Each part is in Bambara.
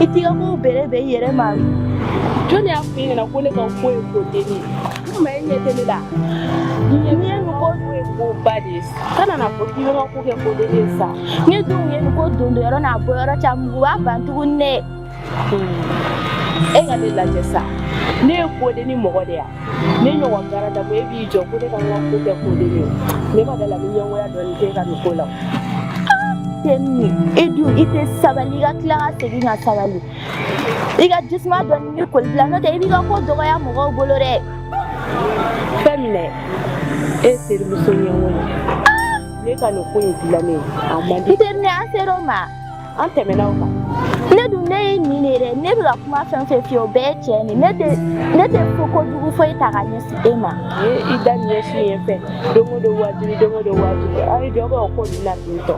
i t'i ka kow bɛrɛbɛn i yɛrɛ ma jɔn y'a f'i ɲɛna ko ne ka ko ye ko deni ma e ɲɛ tɛ ne la n'i ye nin ko dun ye ko ba de ye kana n'a fɔ k'i bɛ ka ko kɛ ko deni ye sa ne dun ye nin ko don don yɔrɔ n'a bɔ yɔrɔ ca mugu b'a ban tuguni dɛ e ka ne lajɛ sa ne ye ko deni mɔgɔ de ya ne ɲɔgɔn baara da e b'i jɔ ko ne ka n ka ko kɛ ko deni ye ne ma da la ni ɲɛngoya dɔɔni kɛ ka nin ko la Tɛnin e dun i tɛ sabali i ka tila ka segin ka sabali i ka jisuma dɔɔni nin ko in bila n'o tɛ i b'i ka ko dɔgɔya mɔgɔw bolo dɛ fɛn min dɛ e terimuso ɲɛngo ye ne ka nin ko in dilannen a man di ɛ Tɛnin an ser'o ma an tɛmɛna o kan ne dun ne ye nin de dɛ ne bɛ ka kuma fɛn fɛn f'i ye o bɛɛ ye tiɲɛ de ne tɛ ko jugu foyi ta ka ɲɛsin e ma. ni i da ɲɛsin yen fɛ don o don wajibi don o don wajibi aw ye dɔ bɔ o ko ninnu na ten tɔ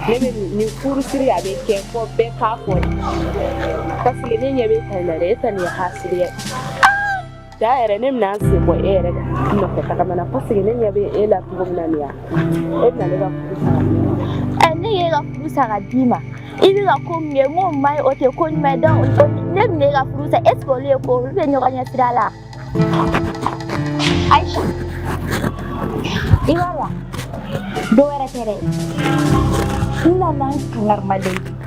ne bɛ nin furu siri a bɛ kɛ fɔ bɛɛ k'a fɔ de parce que ne ɲɛ b'e ta nin na dɛ e ta nin ye hasidiya ye. Da yɛrɛ ne bɛna sen bɔ e yɛrɛ ka nɔfɛ tagama na parce que ne ɲɛ bɛ e la cogo min na nin yan e bɛna ne ka furu sa ɛ ne y'e ka furu sa k'a d'i ma i bɛ ka ko min kɛ n k'o man ɲi o tɛ ko ɲuman ye donc ne bɛna e ka furu sa est ce que olu ye ko olu bɛ ɲɔgɔn ɲɛ sira la Aïcha i b'a la dɔ wɛrɛ tɛ dɛ n nana n kangar'i ma de ye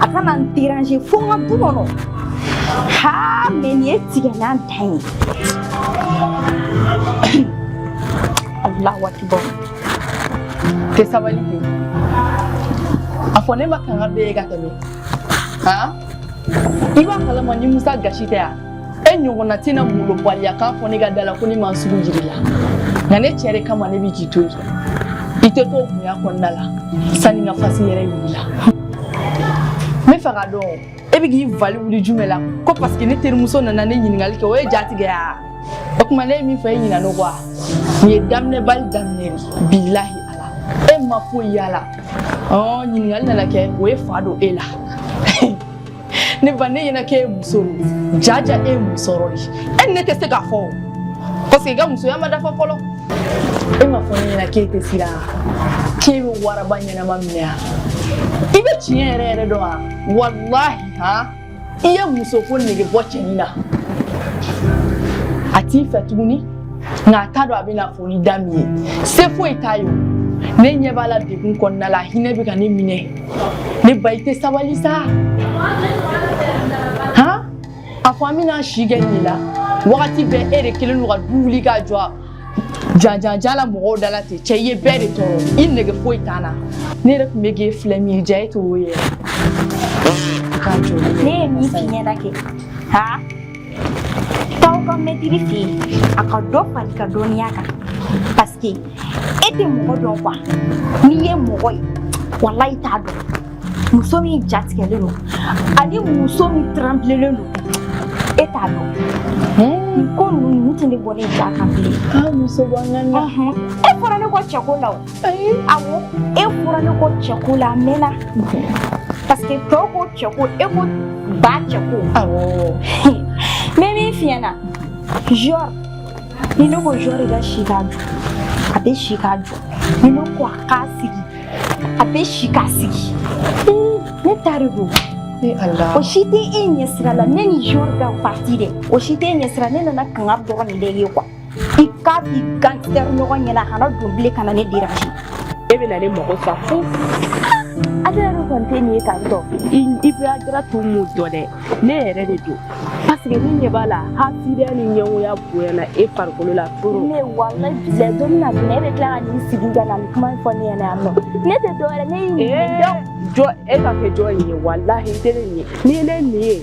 a kana n déranger fo n ka du kɔnɔ haa mɛ nin ye tigɛlan dan ye alahu akibar tɛ sabali ten a fɔ ne man kan ka bɛɛ ye ka tɛmɛ haa i b'a kalama ni musa gasi tɛ yan e ɲɔgɔnna tɛna malobaliya k'a fɔ ne ka da la ko ne ma sugu jiri la nka ne cɛ de kama ne bɛ k'i to yen i tɛ to bonya kɔnɔna la sanni n ka fasi yɛrɛ wuli la n bɛ fɛ k'a dɔn e bɛ k'i vali wuli jumɛn la ko parce que ne terimuso nana ne ɲininkali kɛ o ye jatigɛ ya o tuma ne ye min fɔ e ɲinan'o kɔ a nin ye daminɛbali daminɛ de bilahi ala e ma foyi y'a la ɔ ɲininkali nana kɛ o ye fa don e la ne b'a ne ɲɛna k'e muso don jaja e muso yɔrɔ de e ni ne tɛ se k'a fɔ o parce que i ka musoya ma dafa fɔlɔ e ma fɔ ne ɲɛna k'e tɛ siran k'e bɛ waraba ɲɛnama minɛ yan i bɛ tiɲɛ yɛrɛ yɛrɛ dɔn wa walahi han i ye muso ko nege bɔ cɛnin na a t'i fɛ tuguni nka a t'a dɔn a bɛna fɔ ni da min ye se foyi t'a ye ne ɲɛ b'a la degun kɔnɔna la hinɛ bɛ ka ne minɛ ne ba i tɛ sabali sa han a fɔ an bɛna si kɛ nin la wagati bɛɛ e de kelen don ka du wuli k'a jɔ janjanjan la mɔgɔw da la ten cɛ i ye bɛɛ de tɔɔrɔ i nege foyi t'an na ne yɛrɛ tun bɛ k'e filɛ min ye ja e t'o ye yɛrɛ k'a jɔ ne ye min f'i ɲɛna kɛ haa Taa aw ka mɛtiri fɛ yen a ka dɔ far'i ka dɔnniya kan parce que e tɛ mɔgɔ dɔn quoi n'i ye mɔgɔ ye walahi i t'a dɔn muso min jatigɛlen don ani muso min tranbilelen don e t'a dɔn nin ko ninnu tɛ ne bɔ ne ja kan bilen muso bɔ n kan e fɔra ne kɔ cɛko la o Awɔ e fɔra ne kɔ cɛko la mɛnna parce que to ko cɛko e ko ba cɛko ne min f'i ɲɛna jɔrɔ ni ne ko jɔrɔ ka si ka jɔ a bɛ si ka jɔ ni ne ko a ka sigi a bɛ si ka sigi ne ta de don o si tɛ e ɲɛ sira la ne ni jɔrɔ ka partie dɛ o si tɛ e ɲɛ sira ne nana kanga dɔgɔnin de ye quoi i k'a f'i gangster ɲɔgɔn ɲɛna a kana don bilen ka na ne déranger e bɛna ne mago sa fo ale yɛrɛ kɔni tɛ nin ye tantɔ i bɛ adira to mun dɔ dɛ ne yɛrɛ de don parce que ne ɲɛ b'a la hasidiya ni ɲɛngoya bonyana e farikolo la trop ne walahi bilahi don min na min e bɛ tila ka n'i sigi ka na nin kuma in fɔ ne ɲɛna yan nɔ ne tɛ dɔwɛrɛ ne y'i ɲininka jɔ e ka kɛ jɔn in ye walahi i tɛ ne nin ye n'i ye ne nin ye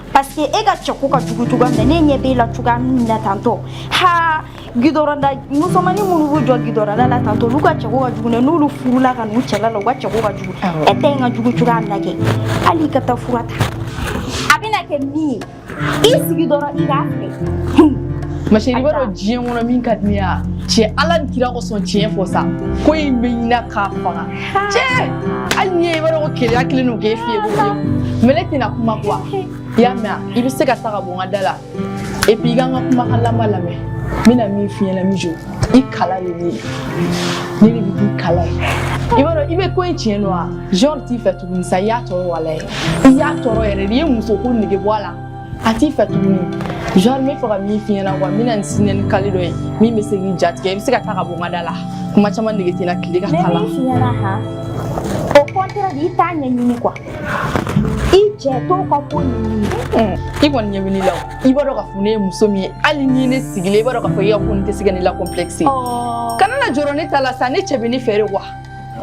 parce que e ka cɛko ka jugu cogoya min na ne ɲɛ b'e la cogoya min na tantɔ ha gidɔrɔnda musomanni minnu b'u jɔ gidɔrɔnda la tantɔ olu ka cɛko ka jugu dɛ n'olu furula ka n'u cɛla la u ka cɛko ka jugu e ta in ka jugu cogoya min na kɛ hali i ka taa fura ta a bɛna kɛ min ye i sigi dɔrɔn i k'a filɛ ma chérie i b'a dɔn diɲɛ kɔnɔ min ka di ne ye a cɛ Ala ni kira kosɔn tiɲɛ fɔ sa ko in bɛ ɲina k'a faga Cɛ hali n'i ye i b'a dɔn ko keleya kɛlen don k'e fiyen ko mais ne tɛna kuma quoi i y'a mɛn i bɛ se ka taa ka bɔ n ka da la et puis i ka n ka kumakan laban lamɛn n bɛna min f'i ɲɛna mijo i kala de ne ne de bɛ k'i kala ye i b'a dɔn i bɛ ko in tiɲɛ dɔn wa jɔrɔ t'i fɛ tuguni sa i y'a tɔɔrɔ walayi i y'a tɔɔrɔ yɛrɛ de i ye muso ko nege bɔ a la a t'i fɛ tuguni genre n bɛ fɛ ka min f'i ɲɛna quoi n bɛna n siɲɛ ni kali dɔ ye min bɛ se k'i jatigɛ i bɛ se ka taa ka bɔ n ka da la kuma caman nege tɛ n na tile ka kalan ne min f'i ɲɛna han au contraire i t'a ɲɛɲini quoi i cɛ t'o ka ko ɲɛɲini i kɔni ɲɛ bɛ ne la o i b'a dɔn k'a fɔ ne ye muso min ye hali ni ne sigilen i b'a dɔn k'a fɔ i ka ko nin tɛ se ka ne la complexe kana na jɔrɔ ne ta la sa ne cɛ bɛ ne fɛ de quoi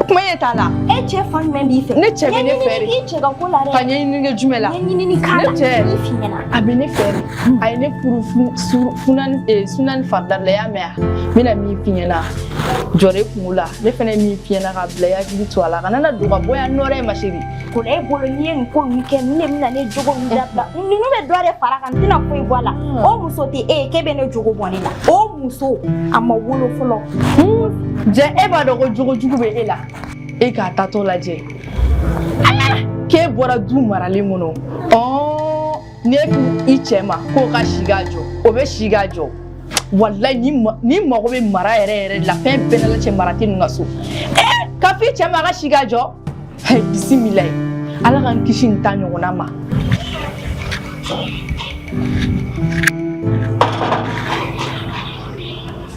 kuma ye t'a la e cɛ fan jumɛn b'i fɛ ne cɛ bɛ ne fɛ de i cɛ ka ko la dɛ ka ɲɛɲini kɛ jumɛn la ɲɛɲini k'a la ne cɛ a bɛ ne fɛ de a ye ne furu funani eh, suna ni farida de la i y'a mɛn wa n bɛna min f'i ɲɛna jɔrɔ i kunko la ne fana ye min f'i ɲɛna ka bila i hakili to a la kana na don ka bɔ yan nɔ dɛ ma chérie Ko e bolo n'i ye nin ko ninnu kɛ ne de bɛna ne jogo ninnu dabila ninnu bɛ dɔ de fara kan n tɛna foyi bɔ a la o muso tɛ e ye k'e bɛ ne jogo bɔ ne la o muso a ma wolo fɔlɔ jɛ e b'a dɔn ko jogo jugu bɛ e la e k'a tatɔ lajɛ k'e bɔra du maralen kɔnɔ ɔ ne k'i cɛ ma k'o ka si ka jɔ o bɛ si ka jɔ walayi n'i mago bɛ mara yɛrɛ yɛrɛ de la fɛn bɛɛ la cɛ mara tɛ ninnu ka so ee ka f'i cɛ ma a ka si ka jɔ bisimilayi ala k'an kisi nin ta ɲɔgɔnna ma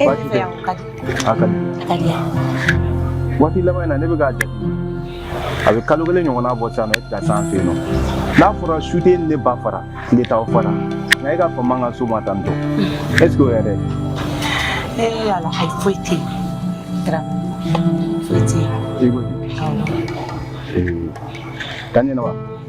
E bɛ fɛ yan o ka di. A ka di. A ka di yan. Waati laban in na ne bɛ k'a jate a bɛ kalo kelen ɲɔgɔnna bɔ sisan nɔ e tɛ ka se an fɛ yen nɔ n'a fɔra su tɛ ne ba fara tile t'aw fara nka e ka fama ka suma tan tɔ est ce que o yɛrɛ. ee ala ayi foyi tɛ yen dara foyi tɛ yen. i ko ten. awɔ. ee ka kɛnɛ wa.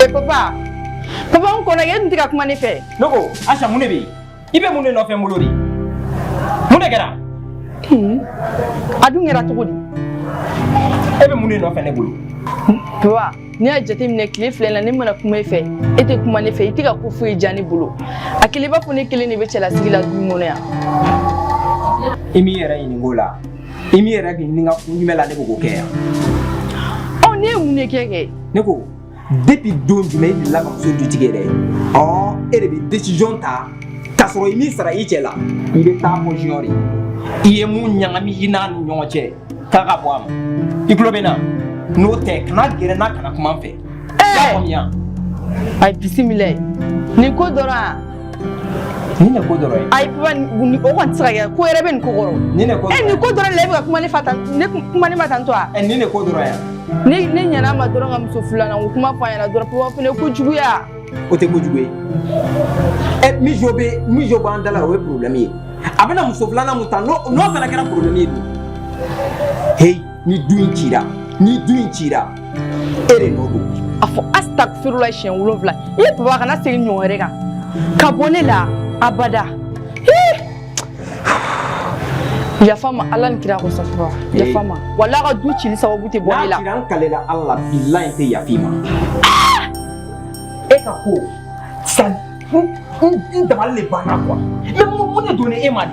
E papa papa n kɔnɔ e dun tɛ ka kuma ne fɛ ne ko Asa mun de bɛ yen i bɛ mun de nɔfɛ n bolo de mun de kɛra a dun kɛra cogo di e bɛ mun de nɔfɛ ne bolo papa n'i y'a jateminɛ tile fila in na ne mana kuma e fɛ e tɛ kuma ne fɛ i tɛ ka ko foyi diya ne bolo a kɛlen i b'a fɔ ne kelen de bɛ cɛlasigi la du in kɔnɔ yan i m'i yɛrɛ ɲininka o la i m'i yɛrɛ ɲininka kun jumɛn la ne bɛ k'o kɛ yan ɔ ne ye mun de kɛ kɛ ne ko depuis don jumɛn i delila ka muso dutigi yɛrɛ ye ɔ e de bɛ décision ta k'a sɔrɔ i m'i sara i cɛ la i bɛ taa fɔ junior ye i ye mun ɲagami i n'a ni ɲɔgɔn cɛ k'a ka bɔ a ma i tulo bɛ n na n'o tɛ kana gɛrɛ n na kana kuma n fɛ i y'a faamuya. ayi bisimilayi nin ko dɔrɔn wa Ni ne ko dɔrɔn ye ayi papa nin o kɔni tɛ se ka kɛ ko wɛrɛ bɛ nin ko kɔrɔ ni ne ko nin ko dɔrɔn de la e bɛ ka kuma ne fɛ tan ne kuma ne ma tan tɔ wa ɛ ni ne ko dɔrɔn yan ne ne ɲɛna ma dɔrɔn ka muso filanan ko kuma fɔ a ɲɛna dɔrɔn papa fana ko juguya o tɛ ko jugu ye ɛ min jo bɛ min jo b'an da la o ye problème ye a bɛna muso filanan mun ta n'o n'o fana kɛra problème ye dun heyi ni du in cira ni du in cira e de nɔ don a fɔ asitagifirula siɲɛ wolonwula i ye papa kana segin ɲɔgɔn wɛrɛ kan ka bɔ ne la abada yafa n ma ala ni kira kosɔn papa yafa n ma wala ka du cili sababu tɛ bɔ ne la n'a kira n kalila ala la bilayi tɛ yaf'i ma e ka ko sa n dabali de banna quoi mais mun de donna e ma de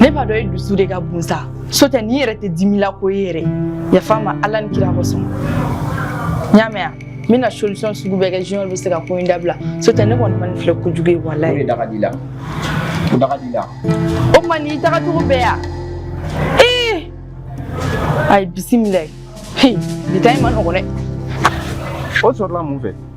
ne b'a dɔn e dusu de ka bon sa so tɛ n'i yɛrɛ tɛ dimila koyi yɛrɛ yafa n ma ala ni kira kosɔn n y'a mɛn n bɛna solution sugu bɛɛ kɛ junior bɛ se ka ko in dabila so tɛ ne kɔni ma nin filɛ kojugu ye walayi o de daga di la o daga di la o tuma n'i taga cogo bɛɛ yan ee ayi bisimila bi ta in man nɔgɔn dɛ o sɔrɔla mun fɛ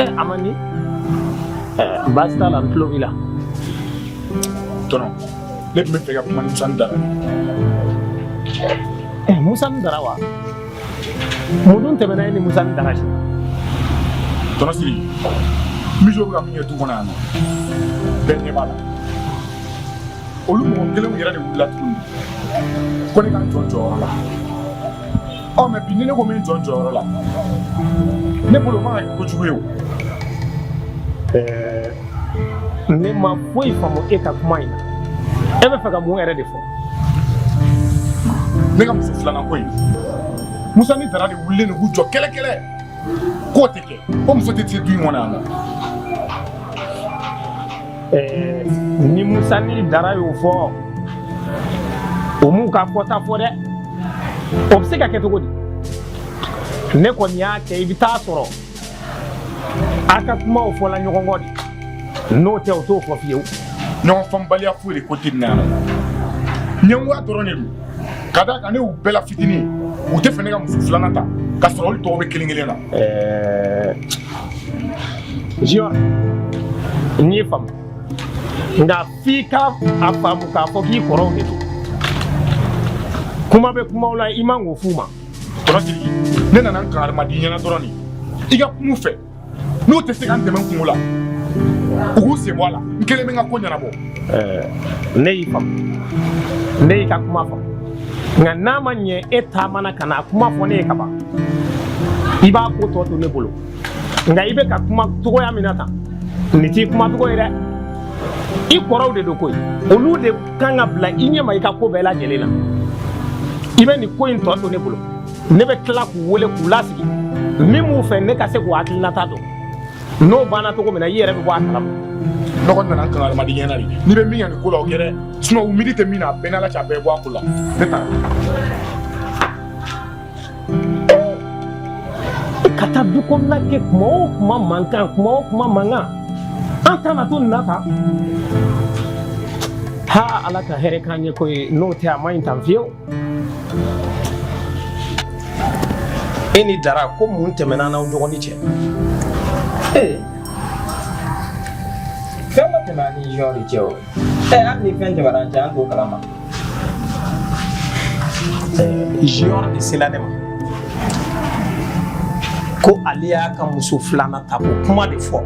Eh, Amani, eh, baasi t'a la n tulo b'i la. Tɔnɔ, ne tun bɛ fɛ ka kuma ni Musa ni Dara ye. Eh, Musa ni Dara wa? Mun dun tɛmɛna e ni Musa ni Dara cɛ? Tɔnɔ Siri, Mijo bɛ ka min kɛ du kɔnɔ yan nɔ, bɛɛ ɲɛ b'a la. Olu mɔgɔ kelenw yɛrɛ de wulila tuguni ko ne ka n jɔ n jɔyɔrɔ la. ɔ mais bi ni ne ko n bɛ n jɔ n jɔyɔrɔ la ne bolo man ka kɛ kojugu ye o ɛɛ ne ma foyi faamu e ka kuma in na e bɛ fɛ ka mun yɛrɛ de fɔ ne ka muso filanan ko in musa ni dara de wulilen de k'u jɔ kɛlɛkɛlɛ k'o tɛ kɛ ko muso tɛ se du in kɔnɔ yan nɔ eh, ni musa ni dara y'o fɔ u m'u ka fɔta fɔ dɛ o bɛ se ka kɛ cogo di ne kɔni y'a kɛ i bɛ taa sɔrɔ aw ka kumaw fɔla ɲɔgɔn kɔ de n'o tɛ u t'o fɔ fiyewu ɲɔgɔn faamubaliya foyi de ko tɛ nin na yan nɔ ɲɛngoya dɔrɔn de don ka d'a kan ne y'u bɛɛ la fitinin u tɛ fɛ ne ka muso filanan ta ka sɔrɔ olu tɔw bɛ kelen kelen na eh, junior n y'i faamu nka f'i k'a faamu k'a fɔ k'i kɔrɔw de don kuma bɛ kumaw la i man k'o f'u ma tɔnɔ siriki ne nana n kankari mad'i ɲɛna dɔrɔn de i ka kum'u fɛ n'u tɛ se ka n dɛmɛ n kunko la u k'u sen bɔ a la n kelen bɛ n ka ko ɲɛnabɔ ne y'i faamu ne y'i ka kuma faamu nka n'a ma ɲɛ e taamana ka na a kuma fɔ ne ye kaban i b'a ko tɔ to ne bolo nka i bɛ ka kuma cogoya min na tan nin t'i kuma cogo ye dɛ i kɔrɔw de don koyi olu de kan ka bila i ɲɛma i ka ko bɛɛ lajɛlen na i bɛ nin ko in tɔ to ne bolo ne bɛ tila k'u wele k'u lasigi min b'u fɛ ne ka se k'u hakilinata dɔn n'o banna cogo min na i yɛrɛ bɛ bɔ a kalama n kɔni nana n kankari mad'i ɲɛna de n'i bɛ min kɛ nin ko la o kɛ dɛ sinon u miiri tɛ min na a bɛɛ n'ala cɛ a bɛɛ bɔ a ko la ne taara. i ka taa du kɔnɔna kɛ kuma o kuma mankan kuma o kuma mankan an tana to nin na tan ha ala ka hɛrɛ k'an ɲɛ koyi n'o tɛ a ma ɲi tan fiyewu. e ni dara ko mun tɛmɛna n'aw dɔgɔnin cɛ. fɛn ma tɛmɛ an ni junior de cɛ o. Ɛɛ hali ni fɛn tɛmɛna an cɛ an t'o kalama. Junior de sela ne ma ko ale y'a ka muso filanan ta ko kuma de fɔ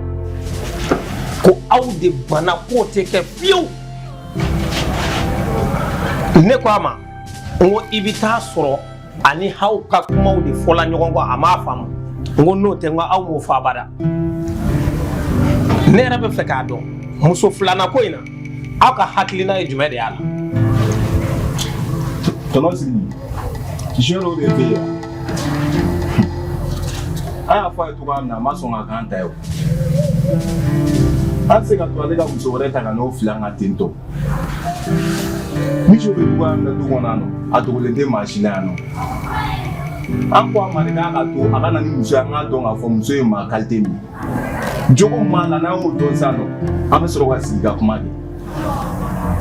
ko aw de banna k'o tɛ kɛ fiyewu ne ko a ma n ko i bɛ taa sɔrɔ ani aw ka kumaw de fɔla ɲɔgɔn kɔ a m'a faamu n ko n'o tɛ n ko aw m'o fɔ abada ne yɛrɛ bɛ fɛ k'a dɔn muso filanan ko in na aw ka hakilina ye jumɛn de y'a la tɔnɔ sigi Junior de bɛ yen an y'a fɔ a ye cogoya min na a ma sɔn ka k'an ta ye o an tɛ se ka to ale ka muso wɛrɛ ta ka n'o fili an kan ten tɔ Muso bɛ cogoya min na du kɔnɔ a dogolen tɛ maa si la yan nɔ an ko a ma k'a ka to a ka na ni muso ye an k'a dɔn k'a fɔ muso ye maa kalite min ye jogo min b'a la n'an y'o dɔn san nɔ an bɛ sɔrɔ ka sigi ka kuma de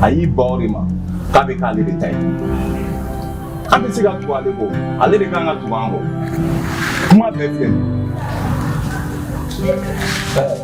a y'i ban o de ma k'a bɛ k'ale de ta ye an tɛ se ka tugu ale kɔ ale de kan ka tugu an kɔ kuma bɛɛ filɛ nin ye.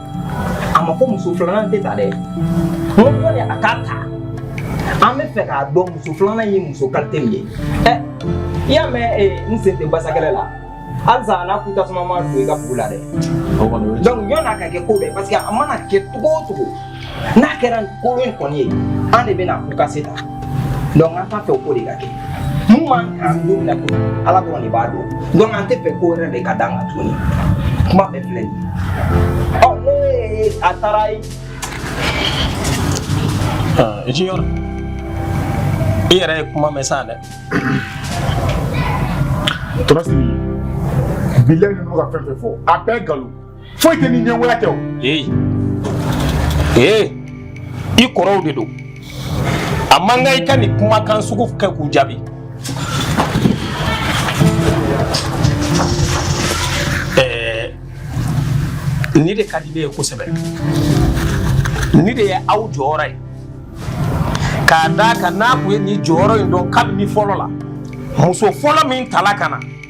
a ma fɔ muso filanan tɛ ta dɛ n ko de a k'a ta an bɛ fɛ k'a dɔn muso filanan ye muso kalite min ye ɛ i y'a mɛn eh, n sen tɛ basakɛlɛ la halisa a n'a ku tasuma ma don i ka bugu la dɛ donc yɔn'a ka kɛ ko bɛɛ parce que a mana kɛ cogo o cogo n'a kɛra kolon in kɔni ye an de bɛna ku kase ta Donc an t'a fɛ ko de ka kɛ min b'an kan don min na ko ala dɔrɔn de b'a dɔn donc an tɛ fɛ ko wɛrɛ de ka d'an kan tuguni kuma bɛɛ filɛ nin ye ne a taara ye junior i yɛrɛ ye kuma mɛn sa dɛ torasi bilayi ninnu ka fɛn fɛn fɔ a bɛɛ nkalon foyi tɛ ni ɲɛngoya tɛ o. ee ee i kɔrɔw de don a man kan i ka nin kumakan sugu kɛ k'u jaabi. ɛɛ nin de ka di ne ye kosɛbɛ nin de ye aw jɔyɔrɔ ye k'a d'a kan n'aw tun ye nin jɔyɔrɔ in dɔn kabini fɔlɔ la muso fɔlɔ min tala ka na.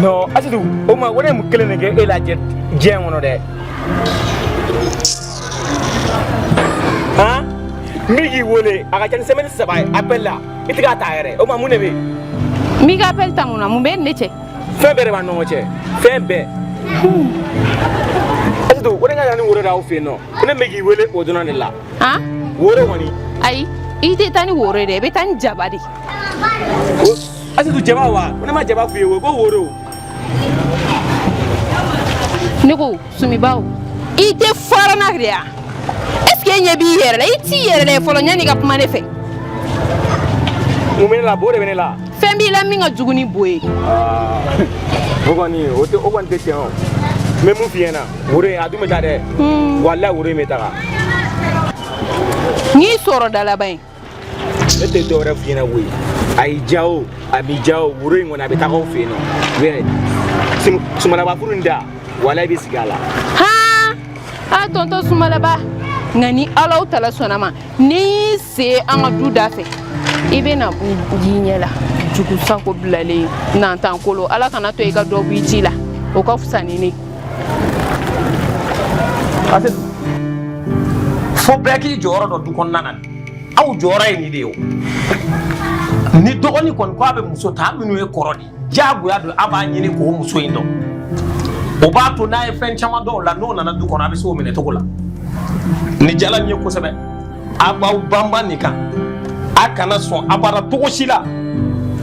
non Asetu o ma ko ne mun kelen de kɛ e la diɲɛ kɔnɔ dɛ han n bɛ k'i wele a ka ca ni sɛmɛni saba ye appel la i tɛ k'a ta yɛrɛ o ma mun de bɛ yen. n b'i ka appel ta mun na mun bɛ ne cɛ. fɛn bɛɛ de b'an ni ɲɔgɔn cɛ fɛn bɛɛ. Asetu ko ne ka taa ni woro d'aw fɛ yen nɔ ko ne bɛ k'i wele o dɔrɔn de la. han woro kɔni. ayi i tɛ taa ni woro ye dɛ i bɛ taa ni jaba de ye. Asetu jaba wa ko ne ma jaba f'i ye o ko woro. ne ko sumibaw i tɛ fara n na de ya est ce que e ɲɛ b'i yɛrɛ la i t'i yɛrɛ lajɛ fɔlɔ yanni ka kuma ne fɛ. mun bɛ ne la bo de bɛ ne la. fɛn b'i la min ka jugu ni bo ye. o kɔni o tɛ o kɔni tɛ tiɲɛ o n bɛ min f'i ɲɛna woro in a dun bɛ taa dɛ. walayi woro in bɛ taga. n'i sɔrɔ dalaba ye. ne tɛ dɔ wɛrɛ f'i ɲɛna koyi a y'i diya o a m'i diya o woro in kɔni a bɛ taga aw fɛ yen nɔ bɛɛ sumalaba furu in da walayi i bɛ sigi a la. haa a tonton sumalaba nka ni alahu taala sɔnna ma n'i y'i se an ka du da fɛ i bɛ n'a y'i ɲɛ la jugu sago bilalen nantan kolo ala kana to i ka dɔ b'i ci la o ka fisa ni ne. Ase fo bɛɛ k'i jɔyɔrɔ dɔn du kɔnɔna na aw jɔyɔrɔ ye nin de ye ni dɔgɔnin kɔni ko a bɛ muso ta minnu ye kɔrɔ de diyagoya don a b'a ɲini k'o muso in dɔn o b'a to n'a ye fɛn caman dɔn o la n'o nana du kɔnɔ a bɛ se o minɛ cogo la nin jala n ye kosɛbɛ a b'aw banba nin kan a kana sɔn abada cogo si la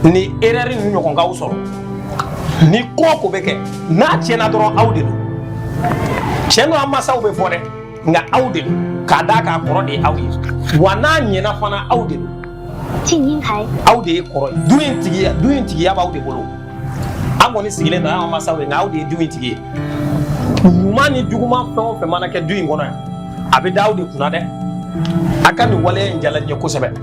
nin erreur nin ɲɔgɔn k'aw sɔrɔ ni ko o ko bɛ kɛ n'a tiɲɛna dɔrɔn aw de don tiɲɛ don an masaw bɛ fɔ dɛ nka aw de don k'a d'a kan kɔrɔ de ye aw ye wa n'a ɲɛna fana aw de don aw de ye kɔrɔ ye du in tigiya b'aw de bolo an kɔni sigilen don an masaw ye nka aw de ye du in tigi ye ɲuman ni juguman fɛn o fɛn mana kɛ du in kɔnɔ yan a bɛ da aw de kunna dɛ a ka nin waleya in jala n ye kosɛbɛ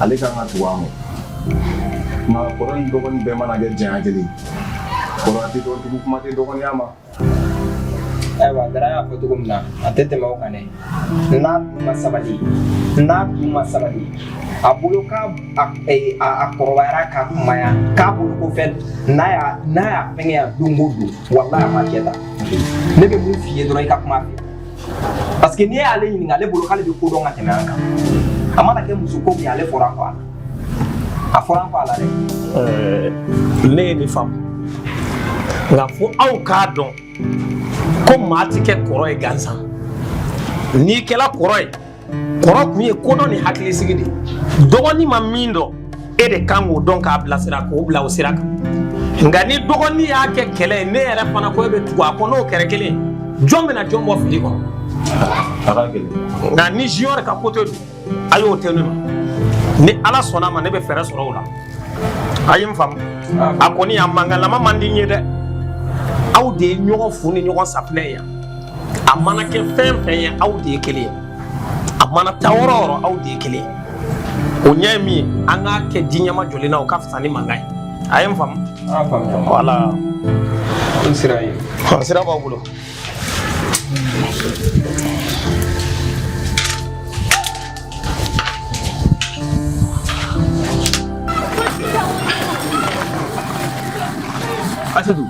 ale kan ka tugu a ma nka kɔrɔ ni dɔgɔnin bɛɛ mana kɛ janya kelen kɔrɔya tɛ dɔn tugu kuma tɛ dɔgɔninya ma ayiwa dara y'a fɔ cogo min na a tɛ tɛmɛ o kan dɛ n'a dun ma sabali n'a dun ma sabali a bolo k'a kɔrɔbayara ka kunbaya k'a bolo ko fɛn n'a y'a n'a y'a fɛngɛya don o don walahi a ma kɛ tan ne bɛ min f'i ye dɔrɔn i ka kuma fɛ parce que n'i y'ale ɲininka ale bolo k'ale bɛ ko dɔn ka tɛmɛ an kan a mana kɛ muso ko min ye ale fɔra an kɔ a la a fɔra an kɔ a la dɛ. ɛɛ ne ye nin faamu nka fo aw k'a dɔn ko maa ti kɛ kɔrɔ ye gansan n'i kɛra kɔrɔ ye. kɔrɔ kun ye kodɔn ni hakilisigi de dɔgɔnin ma min dɔn e de kan k'o dɔn k'a bilasira k'o bila o sira kan nka ni dɔgɔnin y'a kɛ kɛlɛ ye n'e yɛrɛ fana ko e bɛ tugu a kɔ n'o kɛra kelen jɔn bɛna jɔn bɔ fili kɔnɔ nka ni Junior ka côté don a y'o to ne ma ni ala sɔnna ma ne bɛ fɛɛrɛ sɔrɔ o la a ye n faamu a kɔni a mankanlama man di n ye dɛ aw de ye ɲɔgɔn fu ni ɲɔgɔn safinɛ ye yan a mana kɛ fɛn fɛn ye aw de ye kelen ye a mana taa yɔrɔ yɔrɔ aw de ye kelen ye o ɲɛ ye min ye an k'a kɛ de ɲɛmajɔlen na o ka fisa ni mankan ye a ye n faamu voilà n sira ye sira b'aw bolo Asetu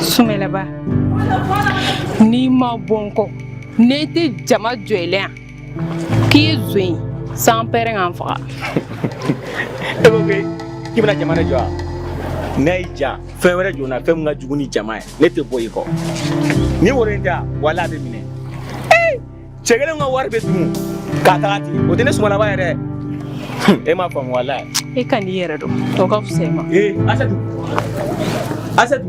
Sumalaba n'i ma bɔ n kɔ ni n tɛ jama jɔ i la yan k'i ye zon ye sanpɛrɛn ka n faga e ko k'i bɛna jama de jɔ wa n'a y'i diya fɛn wɛrɛ jɔ n na fɛn min ka jugu ni jama ye ne tɛ bɔ i kɔ ni wari in tɛ wa wala a bɛ minɛ cɛ kelen ka wari bɛ dun ka taga ten o tɛ ne Sumalaba ye dɛ e m'a faamu wala e ka n'i yɛrɛ dɔn o ka fisa i ma ee Asetu Asetu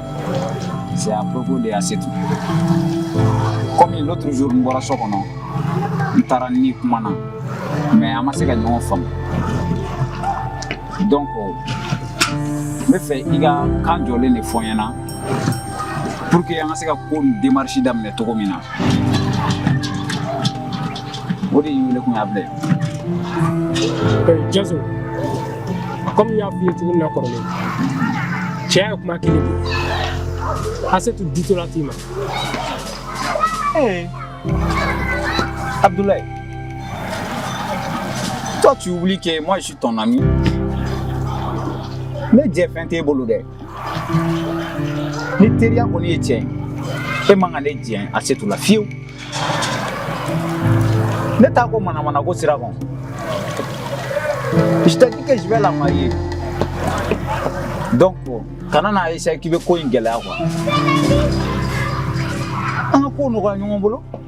C'est à propos de Asetu. Comme l'autre jour, n bɔra so kɔnɔ, n taara n n'i kumana, mais an ma se ka ɲɔgɔn faamu. Donc, n bɛ fɛ i ka kan jɔlen de fɔ n ɲɛna pour que an ka se ka ko in démarche daminɛ cogo min na. o de y'i wele kun ye Abdoulaye. Eh, Jaso, komi n y'a f'i ye cogo min na kɔrɔlen, cɛya ye kuma kelen de ye. Asetu ditɔla t'i ma. Eh, Abdoulaye, toi tu oublies que moi je suis ton ami. Mais jɛ fɛn t'e bolo dɛ. ni teriya kɔni ye tiɲɛ ye e man kan ne jɛ Asetu la fiyewu ne t'a kɔ manamanako sira kan je t'ai dit que je vais la marier donc kana na essayer k'i bɛ ko in gɛlɛya quoi an ka ko nɔgɔya ɲɔgɔn bolo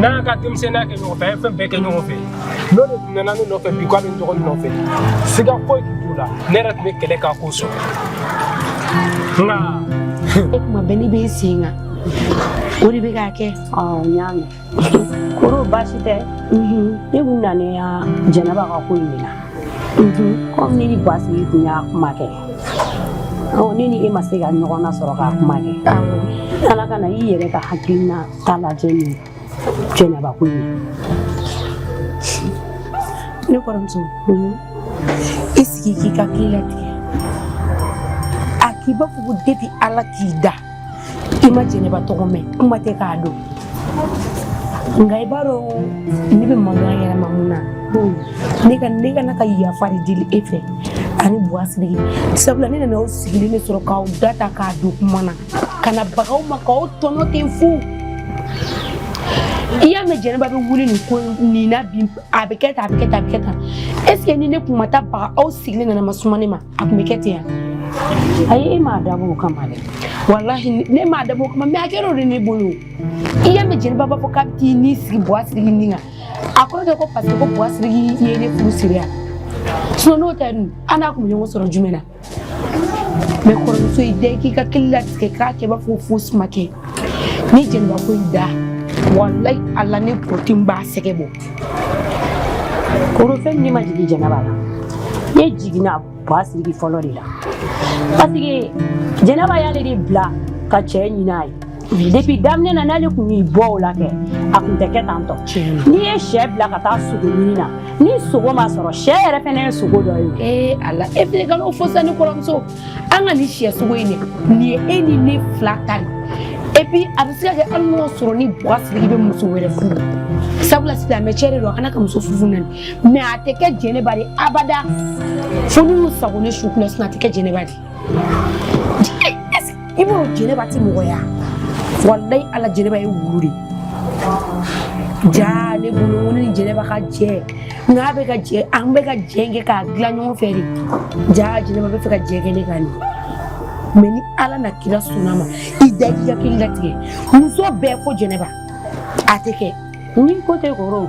n'a ka denmisɛnninya kɛ ɲɔgɔn fɛ an ye fɛn bɛɛ kɛ ɲɔgɔn fɛ n'o de tun nana ne nɔfɛ bi k'a bɛ n dɔgɔnin nɔfɛ siga foyi tun t'o la ne yɛrɛ tun bɛ kɛlɛ k'a ko sɔrɔ nka e kuma bɛɛ ne bɛ sen kan o de bɛ k'a kɛ n y'a mɛn kɔrɔ baasi tɛ ne tun nalen yan Jɛnɛba ka ko in de la komi ne ni basigi tun y'a kuma kɛ ne ni e ma se ka ɲɔgɔn na sɔrɔ k'a kuma kɛ ala kana i yɛrɛ ka hakilina K'ala jɛ ye jɛnɛba ko ye ne kɔrɔmuso i sigi k'i hakili latigɛ a k'i b'a fɔ ko depuis ala k'i da i ma jɛnɛba tɔgɔ mɛn kuma tɛ k'a dɔn nka i b'a dɔn ne bɛ mankan yɛrɛ ma mun na ne ka ne kana ka yafa de deli e fɛ ani buwa siriki sabula ne nana aw sigilen de sɔrɔ k'aw da ta k'a don kuma na ka na baga aw ma k'aw tɔɲɔ ten fu i y'a mɛn jɛnɛba bɛ wuli nin ko nin na bi a bɛ kɛ tan a bɛ kɛ tan a bɛ kɛ tan est ce que ni ne kun ma taa baga aw sigilen nana ma suma ne ma a kun bɛ kɛ ten yan ayi e m'a dabɔ o kama dɛ walahi ne m'a dabɔ o kama mais a kɛra o de ne bolo i y'a mɛn jɛnɛba b'a fɔ k'a bɛ t'i ni sigi buwa siriki ni kan a kɔrɔ tɛ ko parce que ko buwa siriki ye ne furu siri yan sinon n'o tɛ dun an n'a kun bɛ ɲɔgɔn sɔrɔ jumɛn na mais kɔrɔmuso i da k'i hakili latigɛ k'a kɛ i b'a fɔ fosi ma kɛ ni jɛnɛba ko y'i da walayi ala ne kɔrɔti b'a sɛgɛ bɔ kɔrɔ fɛn ne ma jigin jɛnɛba la ne jiginna buwa siriki fɔlɔ de la parce que jɛnɛba y'ale de bila ka cɛ ɲin'a ye depuis daminɛ na n'ale kun y'i bɔ o la kɛ a kun tɛ kɛ tan tɔ n'i ye sɛ bila ka taa sogo ɲini na ni sogo ma sɔrɔ sɛ yɛrɛ fɛnɛ ye sogo dɔ ye ee eh, ala e fɛnɛ ka n'o fɔ sa ni kɔrɔmuso an ka nin sɛ sogo in de nin ye e ni ne fila ta de et puis a bɛ se ka kɛ hali n'o sɔrɔ ni buwa siriki bɛ muso wɛrɛ furu sabula silamɛ cɛ de don a kana ka muso furu fo naani mais a tɛ kɛ jɛnɛba de abada fo n'u sagon ne su kunna sinon a tɛ kɛ jɛnɛba de i b'o jɛnɛba ti mɔgɔ ya walayi ala jɛnɛba ye wulu de jaa ne bolo ni jɛnɛba ka jɛ n'a bɛ ka jɛ an bɛ ka jɛ kɛ k'a dilan ɲɔgɔn fɛ de jaa jɛnɛba bɛ fɛ ka jɛ kɛ ne kan de mais ni ala n'a kira sɔnn'a ma i da i hakili latigɛ muso bɛɛ fo jɛnɛba a tɛ kɛ ni ko tɛ kɔrɔ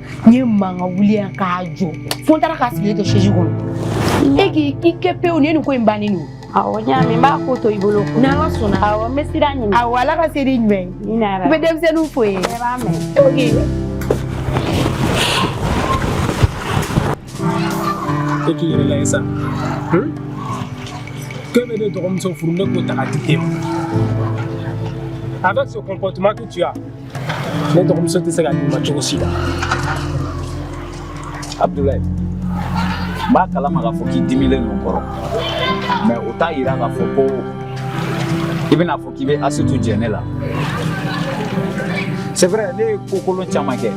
n ye mankan wuli yan k'a jɔ fo n taara k'a sigilen to sɛzi kɔnɔ e k'i kɛ pewu nin ye nin ko in bannen don awɔ n y'a mɛn n b'a ko to i bolo n'ala sɔnna awɔ n bɛ sira ɲini awɔ ala ka se n'i ɲuman ye amiina i bɛ denmisɛnninw fo n ye bɛɛ b'a mɛn ok e k'i yɛrɛ lajɛ sa k'e bɛ ne dɔgɔmuso furu ne k'o ta ka di e ma avec ce comportement que tu as Ne dɔgɔmuso tɛ se ka di i ma cogo si la. Abdoulaye. N b'a kalama ka fɔ k'i dimilen don kɔrɔ. Mais o t'a yira k'a fɔ ko i bɛna fɔ k'i bɛ Asetu jɛ ne la. C'est vrai, ne ye ko kolon caman kɛ.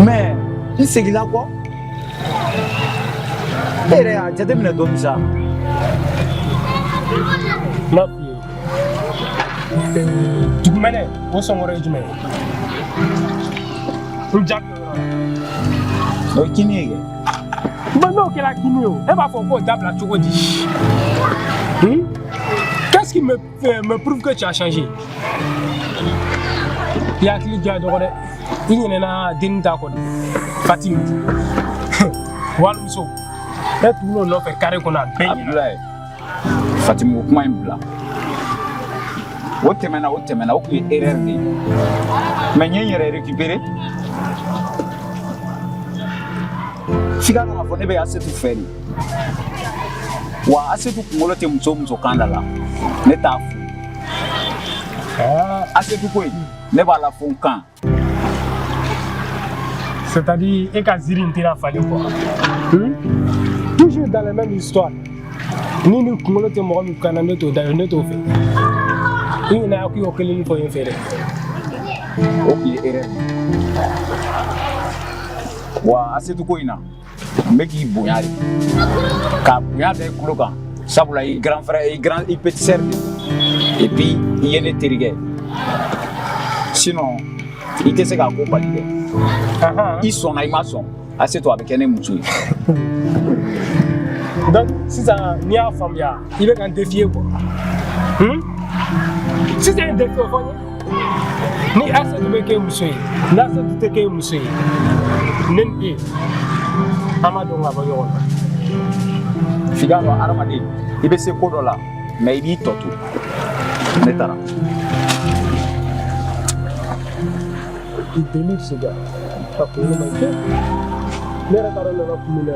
Mais n seginna kɔ. E yɛrɛ y'a jateminɛ dɔɔni sa. Ma Dugumɛnɛ o sɔn kɔrɔ ye jumɛn ye n jaabi o ye kinni ye kɛ mais n'o kɛra kinni ye o e b'a fɔ k'o dabila cogo di hmm? qu'est-ce qui me, euh, me prouve que tu as changé i hakili diya dɔgɔ dɛ i ɲinɛna denni ta kɔ de fatimi walimuso ne tugul'o nɔfɛ carré kɔnɔ a bɛɛ ɲinɛ Fatimu ko kuma in bila o tɛmɛna o tɛmɛna o tun ye erreur de ye mais n ye n yɛrɛ récupérer f'i k'a dɔn k'a fɔ ne bɛ Asetu fɛ de wa Asetu kunkolo tɛ muso o muso kan da la ne t'a fɛ Asetu ko in ne b'a la fo n kan C'est-à-dire, e ka ziiri in tɛna falen quoi. Hmm? Toujours dans la même histoire. Ni nin kunkolo tɛ mɔgɔ min kan na ne t'o da ne t'o fɛ. I ɲinɛna k'i y'o kelen fɔ n fɛ dɛ. O tun ye erreur. Wa Asetu ko in na n bɛ k'i bonya de ka bonya da i kunkolo kan sabula i grand frère i petit sœur de et puis i ye ne terikɛ sinon i tɛ se k'a ko bali dɛ i sɔnna i ma sɔn Asetu a bɛ kɛ ne muso ye donc sisan ni n y'a faamuya i bɛ ka n défier quoi sisan ye défi o fɔ n ye ni Asetu bɛ kɛ i muso ye n'Asetu tɛ kɛ i muso ye ne ni e an b'a dɔn ka bɔ ɲɔgɔn na f'i k'a dɔn hadamaden i bɛ se ko dɔ la mais i b'i tɔ to ne taara il délire ce gars a kunkolo man ɲi ne yɛrɛ taara nana kungo la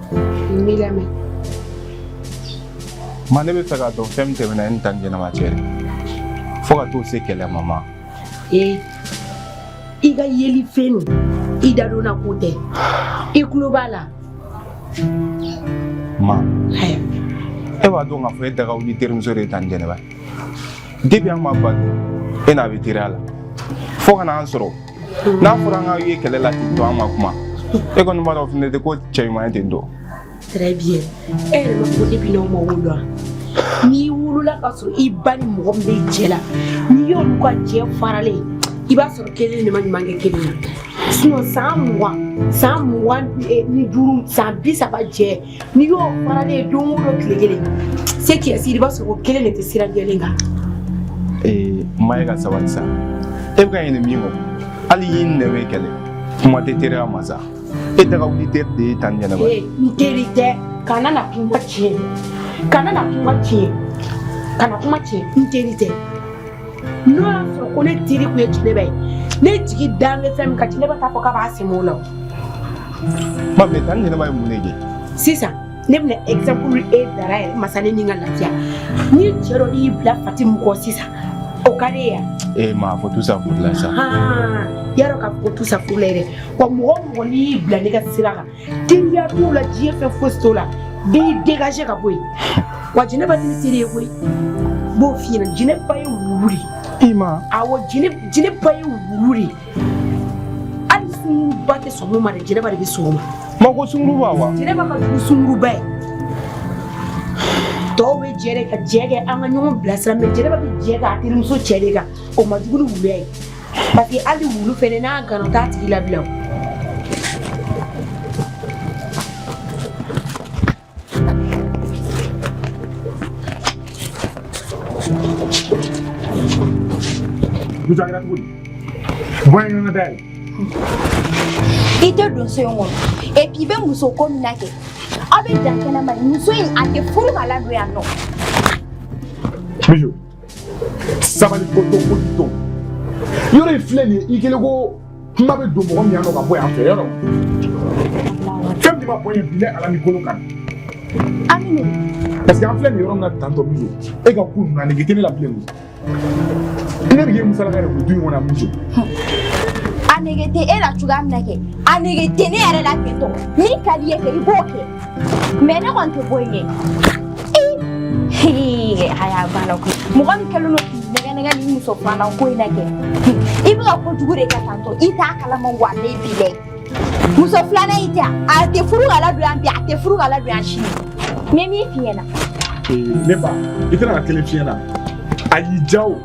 N b'i lamɛn. Ma ne bɛ fɛ k'a dɔn fɛn min tɛmɛna e ni Tanti Jɛnɛba cɛ de fo ka t'o se kɛlɛ ma ma. Ee i ka yeli fɛn nin i dadonna ko tɛ i tulo b'a la. Ma Haya. e b'a dɔn k'a fɔ e daga wuli terimuso de ye Tanti Jɛnɛba ye depuis an ma wolo e n'a bɛ teriya la fo ka n'an sɔrɔ n'a fɔra an k'aw ye kɛlɛ la ten to an ma kuma e kɔni b'a dɔn fɛnɛ tɛ ko cɛ ɲuman ye ten dɔn très bien e yɛrɛ m'a fɔ depuis n'aw ma wolo wa n'i wolola k'a sɔrɔ i ba ni mɔgɔ min bɛ jɛ la n'i y'olu ka jɛ faralen i b'a sɔrɔ kelen de ma ɲuman kɛ kelen na sinon san mugan san mugan ni duuru san bi saba jɛ n'i y'o fana ne ye don o don tile kelen se k'i siri i b'a sɔrɔ o kelen de tɛ sira jɛlen kan. ee ma e ka sabali sa e bɛ ka ɲinɛ min kɔ hali ɲin ni nɛn bɛ kɛlɛ kuma tɛ teriya ma sa e daga wuli teri de ye tanti jɛnɛba. ee n teri tɛ kana na kuma tiɲɛ kana na kuma tiɲɛ kana kuma tiɲɛ n teri tɛ. n'o y'a sɔrɔ ko ne teri kun ye jinɛba ye ne jigi dan bɛ fɛn min kan jinɛba t'a fɔ k'a b'a sɛmɛ o la o. ma mɛ tanti jɛnɛba ye mun de kɛ. sisan ne bɛna exemple e dara yɛrɛ ma sa ne ni ka lafiya ni cɛ dɔ y'i bila fatimu kɔ sisan o ka di e ye. ee ma fɔ tu sa furu la sa. y'a dɔn k'a fɔ ko tu sa furu la yɛrɛ wa mɔgɔ o mɔgɔ n'i y'i bila ne ka sira kan. teriya t'o la diɲɛ fɛn fosi t'o la n b'e dégagé ka bɔ yen wa jinɛba tɛ ne teri ye koyi n b'o f'i ɲɛna jinɛba ye wulu de ye ee ma awɔ jinɛba ye wulu de ye hali sunguruba tɛ sɔn min ma dɛ jinɛba de bɛ sɔn o ma ma ko sunguruba wa jinɛba ka jugu sunguruba ye tɔw bɛ jɛ de ka jɛ kɛ an ka ɲɔgɔn bilasira mɛ jinɛba bɛ jɛ k'a terimuso cɛ de kan o ma jugu ni wuluya ye Parce que hali wulu fɛnɛ n'a gana o t'a tigi labila o. Musa kɛra cogo di? Bɔ yen n ka da yɛlɛ. I tɛ don so in kɔnɔ et puis i bɛ muso ko min na kɛ aw bɛ dan kɛnɛma de muso in a tɛ furu ka ladon yan nɔ. Mijo. sabali ko to ko to yɔrɔ in filɛ nin ye i kelen ko kuma bɛ don mɔgɔ min yan nɔ ka bɔ yan fɛ yɔrɔ fɛn min ma bɔ yen bi ne ala ni kolo kan aminu parce que an filɛ nin yɔrɔ min na tantɔ mijo e ka ko ninnu nege tɛ ne la bilen koyi ne bɛ k'e musalaka yɛrɛ ko du in kɔnɔ yan mijo a nege tɛ e la cogoya min na kɛ a nege tɛ ne yɛrɛ la tantɔ min ka d'i ye kɛ i b'o kɛ mɛ ne kɔni tɛ bɔ yen kɛ a y'a banna koyi mɔgɔ min kɛlen don k'i nɛgɛ nɛgɛ ni muso filanan ko in na kɛ i bɛ ka kojugu de kɛ tantɔ i t'a kalama wa ne b'i la yen muso filanan in tɛ yan a tɛ furu ka ladon yan bi a tɛ furu ka ladon yan sini n ye min f'i ɲɛna ne ba i tɛ na n ka kelen f'i ɲɛna a y'i diya o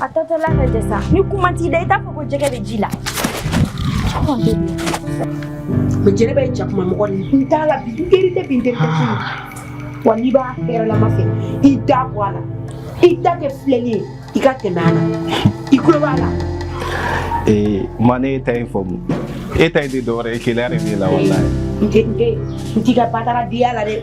A tɔtɔ la lajɛ sa ni kuma t'i da i t'a fɔ ko jɛgɛ bɛ ji la. Mɛ jɛnɛba jakuma mɔgɔ n t'a la bi teri tɛ bi n teri wa n'i b'a hɛrɛlama fɛ i da bɔ a la i da kɛ filɛli ye i ka tɛmɛ a la i tulo b'a la. Ee ma ne ta in faamu e ta in tɛ dɔwɛrɛ ye keleya de b'e la walayi. N tɛ n tɛ n t'i ka bataradenya la dɛ.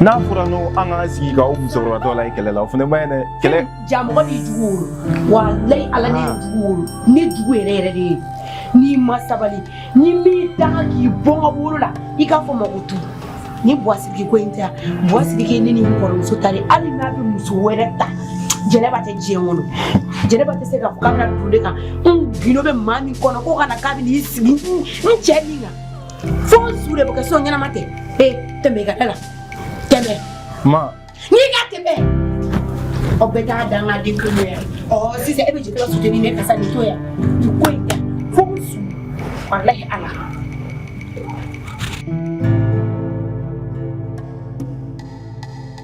n'a fɔra n'o an k'an sigi ka o musokɔrɔbatɔ la ye kɛlɛ la o fana man ɲi dɛ kɛlɛ ja mɔgɔ b'i jugu wolo walayi ala ne ye ah. jugu wolo ne jugu yɛrɛ yɛrɛ de ye n'i ma sabali ne b'i danga k'i bɔ n ka wolo la i k'a fɔ ma ko tuguni buwasiriki ko in tɛ yan buwasiriki ne ni n kɔrɔmuso ta de hali n'a bɛ muso wɛrɛ ta jɛnɛba tɛ diɲɛ kɔnɔ jɛnɛba tɛ se k'a fɔ k'a bɛna don ne kan n gundo bɛ maa min kɔnɔ ko kana k'a bɛ n'i sigi n cɛ min kan fo n su de bɛ kɛ so ɲɛnama tɛ ee tɛmɛ i ka da la tɛmɛ. ma. n'i ka tɛmɛ aw bɛ taa dan ka den kelen yan ɔ sisan e bɛ jigin ka soutenir ne ka sa nin to yan nin ko in ta fo n su walahi ala.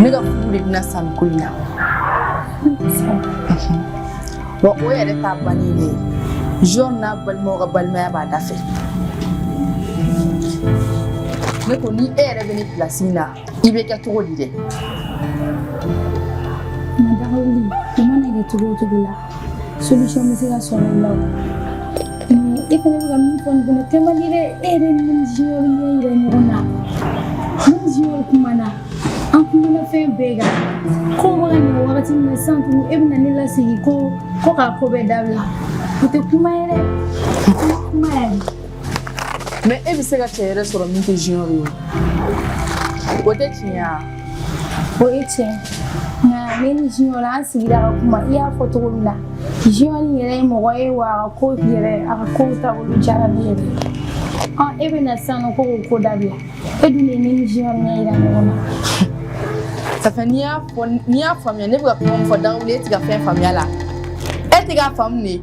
ne ka furu de bɛna sa nin ko in na wa o yɛrɛ ta bannen de ye junior n'a balimaw ka balimaya b'a da fɛ ne ko ni e yɛrɛ bɛ ne pilasi min na i bɛ kɛ cogo di dɛ. Dawuli, ko mana kɛ cogo o cogo la solution bɛ se ka sɔrɔ o la o e fana bɛ ka min fɔ nin fana kɛ man di dɛ e yɛrɛ ne ni junior ɲɛ yira ɲɔgɔn na ne ni junior kumana an kumana fɛn bɛɛ kan ko bɛ ka ɲɛ wagati min na sisan tuguni e bɛna ne lasigi ko ko k'a ko bɛɛ dabila o tɛ kuma ye dɛ o tɛ kuma yɛrɛ mais e bɛ se ka cɛ wɛrɛ sɔrɔ min tɛ junior ye o tɛ tiɲɛ ye wa o ye tiɲɛ nka ne ni junior an sigira ka kuma i y'a fɔ cogo min na junior nin yɛrɛ ye mɔgɔ ye wa a ka ko yɛrɛ a ka kow taabolo diyara ne yɛrɛ ɔn e bɛ na sisan nɔ ko k'o ko dabila e dun de ye ne ni junior ɲɛ yira ɲɔgɔn na ça fait n'i y'a fɔ n'i y'a faamuya ne bɛ ka kuma min fɔ dawuli e tɛ ka fɛn faamuya la e tɛ k'a faamu de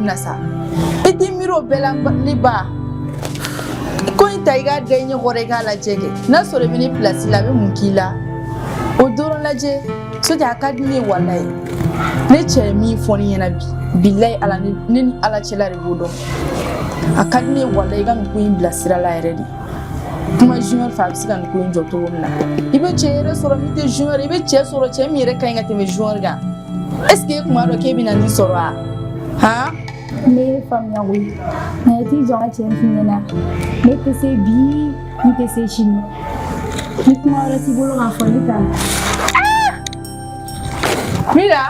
na sa i t'i miiri o bɛɛ la ne ba ko in ta i k'a da i ɲɛ kɔrɔ i k'a lajɛ kɛ n'a sɔrɔ i bɛ ne pilasi la a bɛ mun k'i la o dɔrɔn lajɛ sotɛ a ka di ne ye walayi ne cɛ ye min fɔ ne ɲɛna bi bilayi ala ne ni ala cɛla de b'o dɔn a ka di ne ye walayi i ka nin ko in bila sira la yɛrɛ de kuma junior fɛ a bɛ se ka nin ko in jɔ cogo min na i bɛ cɛ wɛrɛ sɔrɔ min tɛ junior i bɛ cɛ sɔrɔ cɛ min yɛrɛ ka ɲi ka tɛmɛ junior kan est ce que e kun b'a dɔn k'e bɛna nin sɔrɔ wa han n b'i faamuya koyi nka i t'i jɔ n ka tiɲɛ f'i ɲɛna ne tɛ se bi n tɛ se sini ni kuma wɛrɛ t'i bolo k'a fɔ ne t'a la. Mira.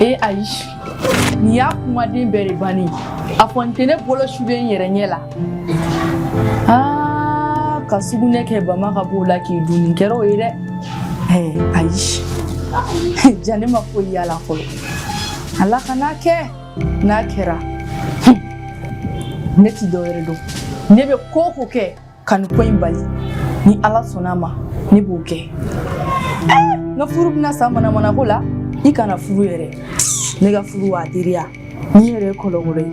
ee ayi nin y'a kumaden bɛɛ de bannen a fɔ n tɛ ne bolo sulen n yɛrɛ ɲɛ la aa ka sugunɛ kɛ bama ka b'o la k'i dun nin kɛra o ye dɛ ee ayi ja ne ma foyi y'a la fɔlɔ ala kan'a kɛ n'a kɛra ne tɛ dɔwɛrɛ dɔn ne bɛ ko o ko kɛ Ka nin ko in bali ni ala sɔnna a ma ne b'o kɛ eh, n ka furu bɛna sa manamanako la i kana furu yɛrɛ ne ka furu wa teriya n'i yɛrɛ ye kɔlɔkɔlɔ ye